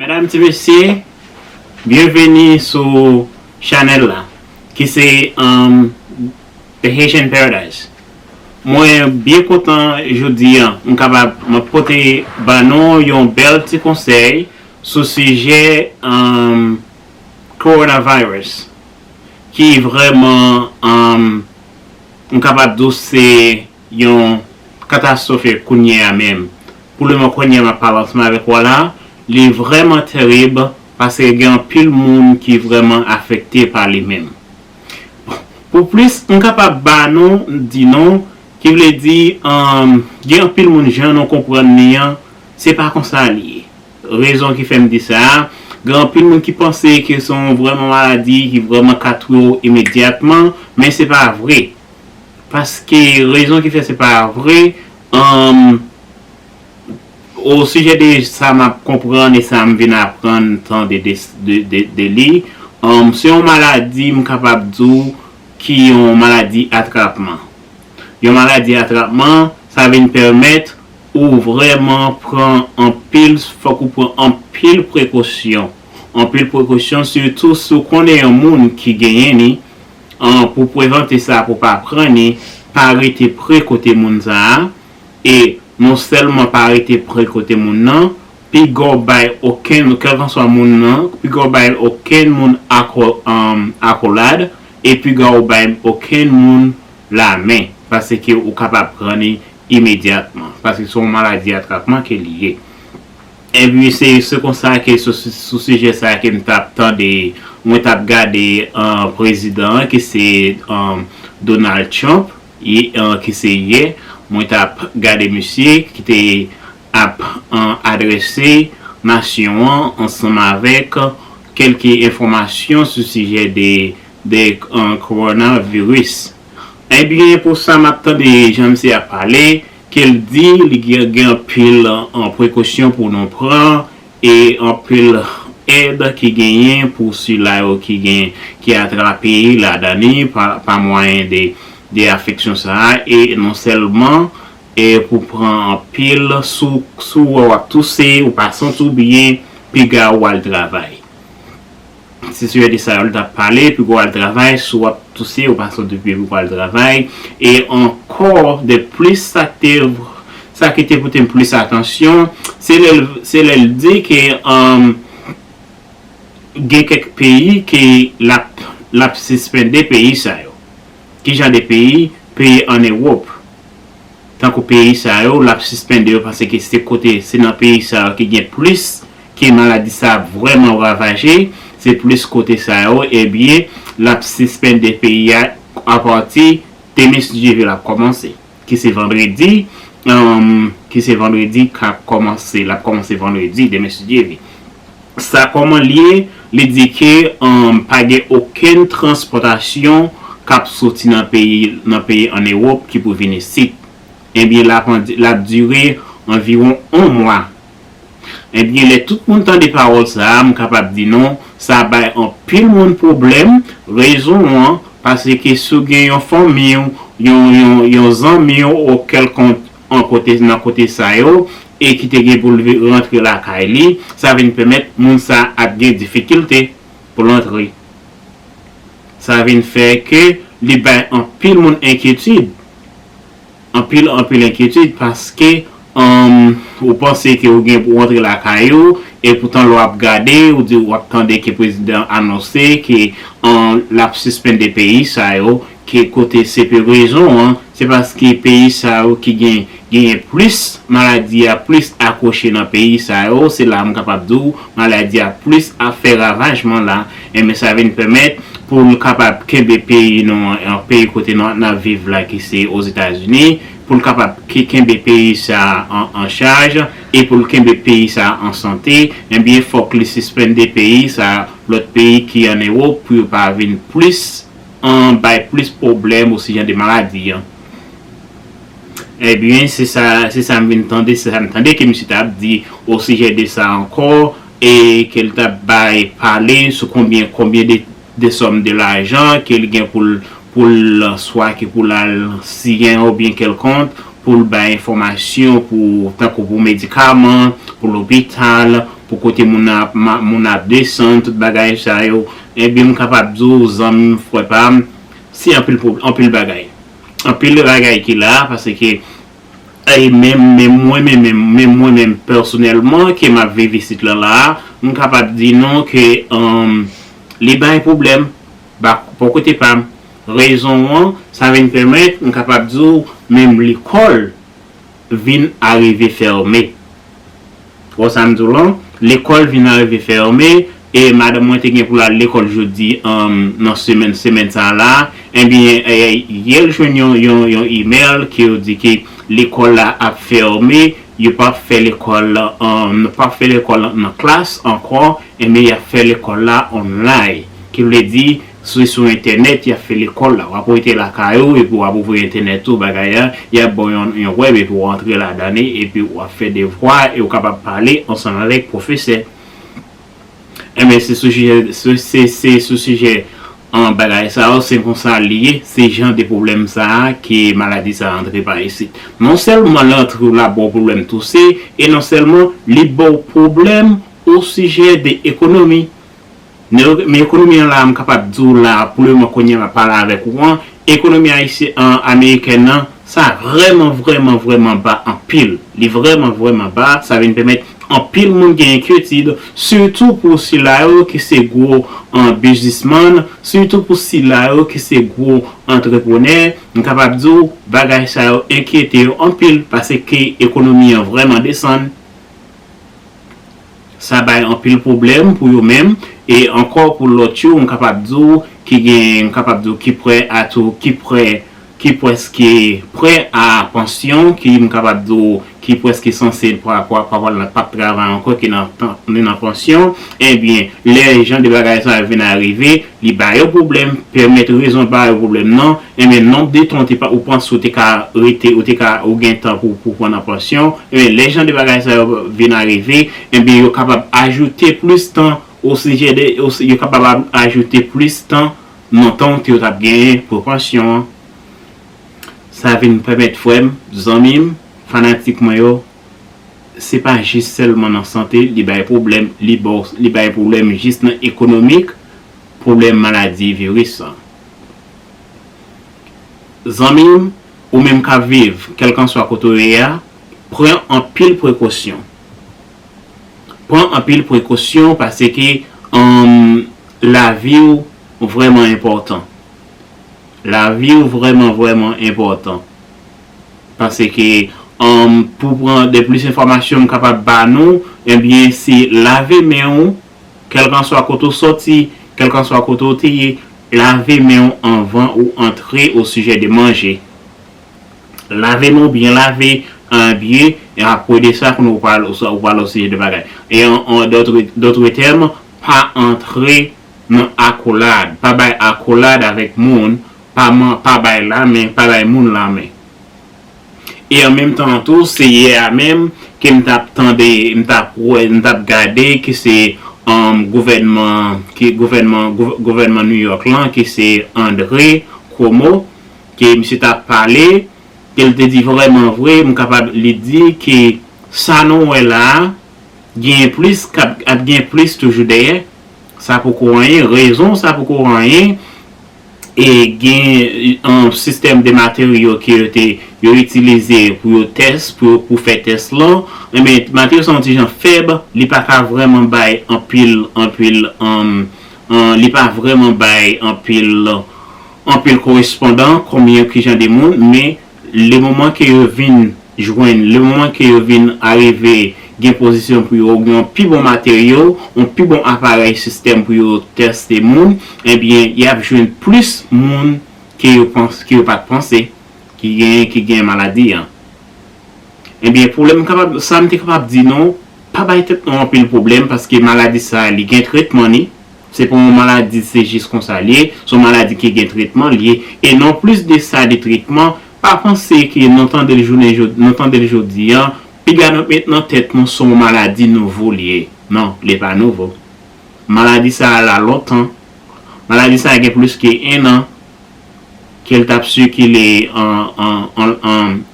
Medam ti mesye byenveni sou chanèl la ki se The Haitian Paradise mwen byen kontan jodi an m kapab m ap pote ba nou yon bèl ti konsèy sou sijè Coronavirus. ki vrèman an m kapab di w se yon katastrofe kounye a menm pou le mo kounye a m ap pale ansanm avèk w a la li vrèman terib paske gen anpil moun ki vrèman afekte pa li menm pou plis m kapab ba nou di nou ki vle di an gen anpil moun jan nou konprann li an se pa konsa li ye Rezon ki fè m di sa, gen anpil moun ki panse ke se yon vrèman maladi ki vrèman ka touye w imedyatman, men se pa vre. Paske rezon ki fè se pa vre, humm, osijè de sa m ap konprann e sa m vin aprann tande de li, humm, se yon maladi m kapab di w ki yon maladi atrapman. Yon maladi atrapman, sa vin pèmèt Ou vrèman pran anpil fòk ou pran anpil prekosyon anpil prekosyon sitou si ou konnen yon moun ki genyen ni an pou prevante sa pou pa pran ni pa rete pre kote moun sa a e non sèlman pa rete pre kote moun nan piga w bay okenn kèlkanswa moun nan piga w bay okenn moun ako akolad e piga w bay okenn moun lamen paseke ou kapab pran ni imedyatman, paske se yon maladi atrapman ke li ye. Epi se konsa ke sou sijè sa a ke m t ap tande, mwen t ap gade prezidan an ki se Donald Trump, ki se yè, mwen t ap gade misye ki te ap adrese nasyon an ansanm avèk kèlke enfòmasyon sou sijè de coronavirus. Ebyen pou sa map tande jan misye ap pale kel di li gen anpil prekosyon pou nou pran e anpil èd ki genyen pou sila yo ki gen ki atrape ladan li pa mwayen de afeksyon sa e non sèlman e pou pran anpil sou sou wè wap touse ou pa santi w byen piga ou al travay. Se sujè de sa yo li tap pale epi pou al travay si wap touse ou pa sot epi pou al travay e ankò de plis sak te sa ki te potem plis atansyon se lè se lè li di ke umm gen kèk peyi ke lap lap sispende peyi sa yo kijan de peyi peyi an ewop. tankou peyi sa yo lap sispende yo panse ke se kote se nan peyi sa yo ki gen plis ke maladi sa ap vrèman ravaje se plis kote sa yo ebyen lap sispende peyi a apati Temis JV lap kòmanse ki se vandredi humm ki se vandredi kap kòmanse lap kòmanse vandredi Demis JV. sa kòman l ye, li di ke pa gen okenn transpòtasyon k ap soti nan peyi nan peyi ann Ewòp ki pou vin isit. Ebyen l ap l ap dire anviwon on mwa. Ebyen lè tout moun tande pawòl sa a m kapab di nou sa bay anpil moun pwoblèm, rezon an paseke si w gen yon fanmi w, yon yon yon zanmi w ou kèlkont an kote nan kote sa yo e ki te gen pou l rantre lakay li, sa vin pèmèt moun sa ap gen difikilte pou l antre. Sa vin fè ke li bay anpil moun enkyetid, anpil anpil enkyetid paske ou panse ke ou gen pou w antre lakay ou e poutan lè w ap gade ou di w ap tande ke prezidan anonse ke l ap sispende peyi sa yo Ki kote se pe rezon an, se paske peyi sa yo ki gen genyen plis maladi a plis akwoche nan peyi sa yo, se la m kapab di w maladi a plis ap fè ravajman la, enben sa vin pèmèt pou l kapab kenbe peyi nou an, peyi kote nou ap viv la ki se Ozetazini, pou l kapab kenbe peyi sa an chaj e pou l kenbe peyi sa an sante, enben fòk li sispende peyi sa lòt peyi ki an Ewop pou yo pa vin plis. an bay plis pwoblèm ou si jan de maladi an ebyen se sa se sa m vin tande se sa m tande ke misye t ap di o sijè de sa ankò e ke l t ap bay pale sou konbyen konbyen de de sòm de lajan ke l gen pou l pou l swa ke pou l al siyen obyen kèlkonk pou l bay enfòmasyon pou tankou pou medikaman pou lopital pou kote moun nan ap moun nan ap desann tout bagay sa yo. Ebyen m kapab di w zanmi m frè pa m se anpil pwob anpil bagay anpil bagay ki la paske e menm menm mwen menm menm menm mwen menm pèsonèlman ke m ap viv isit lan la a m kapab di nou ke humm li bay pwoblèm ba bò kote pa m rezon an sa vin pèmèt m kapab di w menm lekòl vin arive fèrme. W wè sa m di w la? Lekòl vin arive fèrme e madanm mwen te gen pou l al lekòl jodi nan semèn semèn sa a la a, enben yè l jwenn yon imèl ke yo di ke lekòl la ap fèrme, yo p ap fè lekòl nou p ap fè lekòl nan klas ankò, enben y ap fè lekòl la online ki vle di Se sou entènèt yap fè lekòl la. Wap rete lakay ou epi wap ouvri entènèt ou bagay la, yap baw yon yon web epi ou antre ladan li epi wap fè devwa e ou kapab pale ansanm avèk pwofesè. Enben se sou sijè se se se sou sijè an bagay sa yo se konsa li ye se jan de pwoblèm sa a ke maladi sa a antre pa isit. Non sèlman li antre ou la baw pwoblèm touse e non sèlman li baw pwoblèm osijè de ekonomi. Men ekonomi an la a m kapab di w la a pou le moman kounye a m ap pale avèk ou an, ekonomi ayisyen amerikèn an sa vrèman vrèman vrèman ba anpil. Li vrèman vrèman ba, sa vin pèmèt anpil moun gen enkyetid, sitou pou sila yo ki se gwo biznismann, sitou pou sila yo ki se gwo antreprenè, m kapab di w bagay sa yo enkyete yo anpil, pase ke ekonomi an vrèman desann. Sa bay anpil pwoblèm pou yo menm, e ankò pou lòt yo m kapab di w ki gen m kapab di w ki prè a tou ki prè ki prèske prè a pansyon ki m kapab di w ki prèske sanse pa pa pa pa pa p travay ankò ki nan tan nan pansyon ebyen lè jan de bagay sa yo vin arive Li ba yo pwoblèm, pèmèt rezon ba yo pwoblèm nan, enben nonb de tan ou te pa ou panse ou te ka rete ou te ka ou gen tan pou pou pran nan pansyon, enben lè jan de bagay sa yo vin a rive, enben yo kapab ajoute plis tan osijè de o yo kapab a ajoute plis tan nan tan ou te ou t ap genyen pou pansyon an. Sa vin pèmèt frè m, zanmi m, fanatik mwen yo se pa jis sèlman nan sante li bay pwoblèm, li ba w, li bay pwoblèm jis nan ekonomik, pwoblèm maladi viris an. Zanmi m, ou menm k ap viv, kèlkanswa kote w ye a, pran anpil prekosyon. Pran anpil prekosyon paske humm lavi w vrèman enpòtan. Lavi w vrèman vrèman enpòtan. Panse ke pou pran de plis enfòmasyon m kapab ba nou, ebyen se lave men ou, kèlkanswa kote ou sòti, kèlkanswa kote ou te ye, lave men ou anvan ou antre osijè de manje. Lave men ou byen lave, anbye, e apwe de sa kounye ou pral ou pral osijè de bagay. E an dòtre tèm, pa antre nan akolad, pa bay akolad avèk moun Pa man pa bay la men pa bay moun la men e an menm tan an tou se yè a menm ke m tap tande m tap wè m tap gade ke se an gouvènman ke gouvènman gouvènman New York lan ke se Andre Cuomo ke misye tap pale ke l te di vrèman vre m kapab li di ke sa nou wè la a genyen plis kap ap gen plis toujou dèyè sa poko anyen rezon sa poko anyen e gen yon sistèm de materyo ke yo te yo itilize pou yo tès, pou yo pou fè tès lan, enben materyo sa yon ti jan fèb, li pa ka vrèman bay anpil, anpil li pa vrèman bay anpil, anpil korespondan konbyen ki jan de moun, men Le moman ke yo vin jwenn, le moman ke yo vin arive gen pozisyon pou yo gen yon pi bon materyo, yon pi bon aparèy sistèm pou yo teste moun, ebyen y ap jwenn plis moun ke yo panse, ke yo pa t panse ki gen, ki gen maladi an. Ebyen pwoblèm m kapab, sa m te kapab di nou, pa bay tèt nou anpil pwoblèm paske maladi sa li gen tretman li, Se pa yon maladi se jis konsa li ye, son maladi ki gen tretman li ye, e non plis de sa de tretman, pa panse ke non tande l jounen jodi non tande l jodi an, piga nou met nan tèt nou son maladi nouvo li ye, non li pa nouvo. Maladi sa a la lontan, maladi sa a gen plis ke 1 an ke l t ap sikile an an an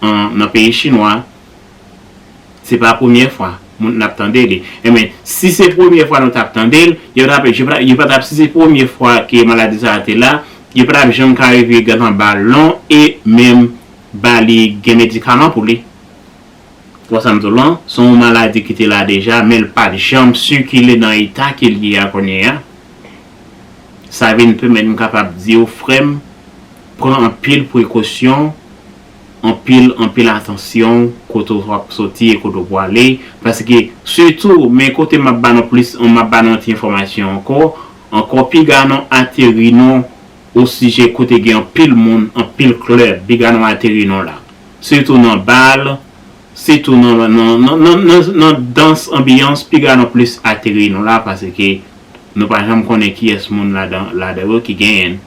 an nan peyi chinwa. Se pa premyè fwa moun ap tande li. Enben, si se premyè fwa nou t ap tande l, yo t ap, yo pa t ap, si se premye fwa ke maladi sa a te la, yo pa t ap janm ka rive gad anba lon e menm ba li gen medikaman pou li. Ou wè sa m di w lan? Se yon maladi ki te la deja, men l pa t janm sikile nan eta ke l ye a kounye a. Sa vin pèmèt m kapab di w frè m, pran anpil prekosyon Anpil anpil atansyon kote w ap soti e kote w pwale paske sitou men kote m ap ba nou plis m ap ba nou yon ti enfòmasyon ankò ankò piga nou ateri nou osijè kote gen anpil moun anpil klèb piga nou ateri nou la sitou nan bal sitou nan nan nan dans anbiyans piga nou plis ateri nou la paske nou pa janm konnen kiyès moun ladan ladan yo ki genyen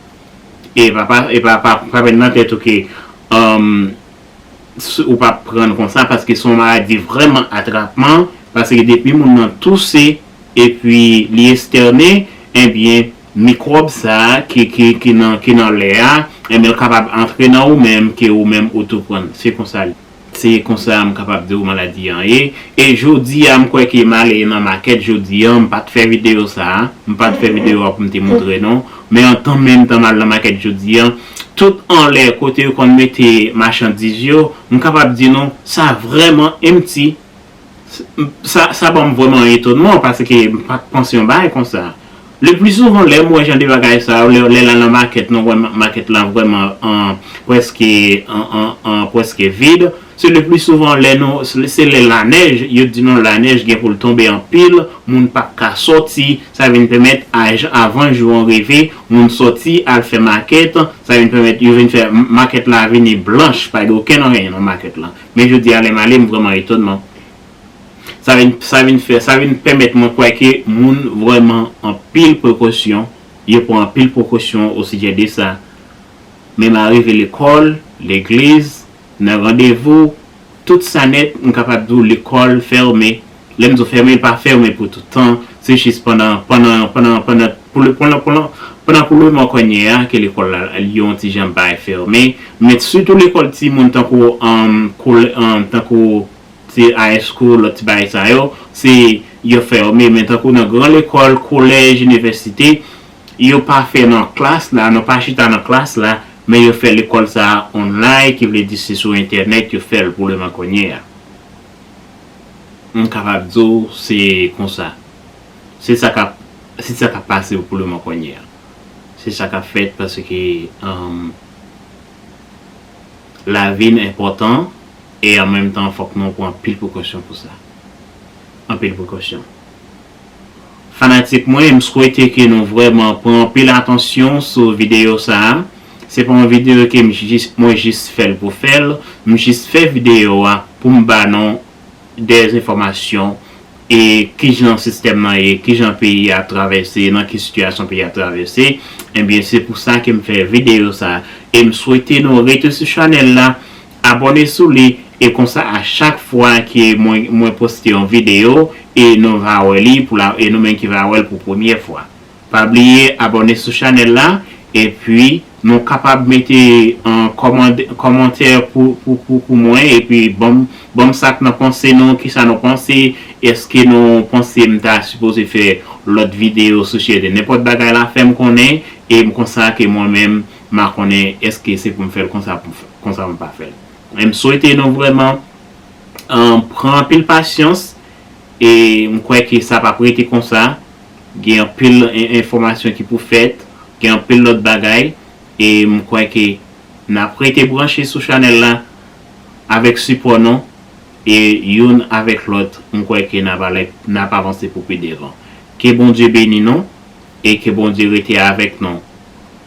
E pa pa e pa pa pa met nan tèt ou ke um ou pa prann konsa paske se yon maladi vrèman atrapman paske depi moun nan touse epi li estène ebyen mikwòb sa ki ki ki nan ki nan lè a ebyen l kapab antre nan ou menm ke ou menm ou tou prann se konsa l Se konsa m kapab di w maladi an ye. E jodi a m kwè ke m ale nan makèt jodi an, m pa t fè videyo sa a, m pa t fè videyo a pou m te montre non, men an tan menm tan m al nan makèt jodi an, tout anlè kote yo konn mete machandiz yo, m kapab di nou sa vrèman empty. Sa banm vrèman etonman paske m pat panse yon bagay konsa. Le pli souvan lè m wè jan de bagay sa yo, lè lal nan makèt nou wè makèt la vrèman an prèske an prèske vid, se le pli souvan lè nou se lè lanèj, yo di nou lanèj gen pou l tonbe anpil, moun pap ka sòti, sa vin pèmèt aj avan jou an rive, moun sòti al fè makèt, sa vin pèmèt yo vin fè makèt la vini blanch, pa gen okenn anyen nan makèt la. Men jodi a lè m ale m vrèman etonman. Sa vin sa vin fè sa vin pèmèt mwen kwè ke moun vrèman anpil prekosyon, yo pran anpil prekosyon osijè de sa. Men m arive lekòl, legliz, nan randevou, tout sa nèt m kapab di w lekòl fèmen Lè m di w fèmen, pa fèmen pou tout tan, se jis pandan, pandan, pandan, pandan, pou le, pandan, pandan, pandan pou le mò konnye a ke lekòl la li yon ti jan bay fèmen, men sitou lekòl timoun tankou, anm, kole, anm, tankou ti high school, lòt ti bagay sa yo, se yo fèmen, men tankou nan gran lekòl, kolèj, inivèsite, yo pa fè nan klas la, nou pa chita nan klas la, men yo fè lekòl sa a online, ki vle di se sou entènèt yo fè l pou le mò konnye a. M kapab di w se konsa. Se sa k ap se sa k ap pase pou leman kounye a. Se sa k ap fèt paske lavi n enpòtan e an menm tan fòk nou pran anpil prekosyon pou sa. Anpil prekosyon. Fanatik mwen, m swete ke nou vrèman pran anpil atansyon sou videyo sa a. Se pa yon videyo ke m jis, mwen jis fè l pou fè l. M jis fè videyo a pou m ba nou de enfòmasyon e kijan sistèm nan ye, kijan peyi a ap travèse, nan ki sitiyasyon peyi a ap travèse. Ebyen se pou sa ke m fè videyo sa a. E m swete nou rete sou chanèl la. Abòne sou li e konsa a chak fwa ke mwen mwen poste yon video e nou va wè li pou la e nou menm ki va wèl pou premyè fwa. Pa bliye abòne sou chanèl la epi nou kapab mete an kòmand kòmantè pou pou pou pou mwen epi banm banm sak nan panse nou kisa nou panse eske nou panse m ta sipoze fè lòt video sou chede nenpòt bagay la fèm konnen em konsa ke mwen menm Ma konnen eske se poum fèl konsa pou konsa mwen pa fèl em swete nou vrèman an pran anpil pasyans e m kwè ke sa pap rete konsa gen anpil enfòmasyon ki pou fèt gen anpil lòt bagay e m kwè ke nap rete branche sou chanèl la avèk sipò nou e youn avèk lòt m kwè ke nap ale nap avanse pou pi devan ke Bondye beni nou e ke Bondye rete avèk nou.